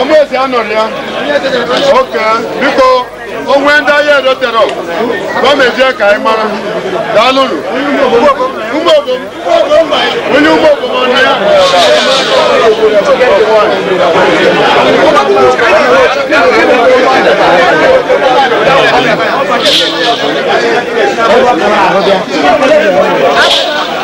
ọmụezi anọrọ ya oke biko o nwee ndị ahịa edotere gọọmenti ya ka anyị mara daalụnụ ụmụ obom onye ụmụ obom ọnụ ya Thank you.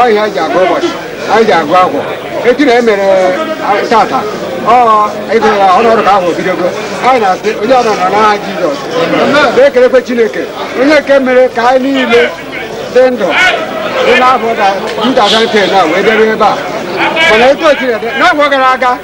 ọ ihe anyị ji agụ ụbọchị anyị ji agụ arọ etu na e mere tata ọ ịgụrụ ya ọnụ ọrụ ka ahụ bidogo anyị na-asị onye ọrụ nọ n'aha jizọs na-ekelekwa chineke onye nke mere ka anyị niile dị ndụ dị n'afọ na 2010 na wee debe ebe a mana etu o chineke n'afọ gara aga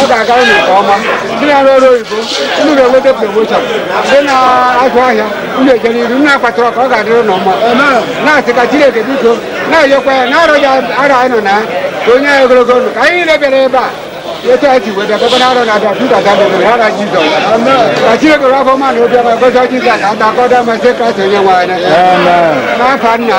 ọ ga-agara unu nke ọma ndị na-arụ ọrụ oyibo unu ga-enweta promoshọn ndị na-azụ ahịa unu eje n'iru nna akpatara ka ọ ga-adịrị unu mma na-asị ka Chineke biko na-ayọkwa ya na arọ ya arọ anyị nọ na ya ka o nye anyị ogologo ndụ ka anyị niile bịara ebe a etu anyị si wee bịa gọvanọ arọ na-abịa Pita dabere ha na Jizọs ka Chineke rafọ ma na obi ọma gozi Jizọs ka ada akọda masị Kraịst onye nwe anyị n'aha nna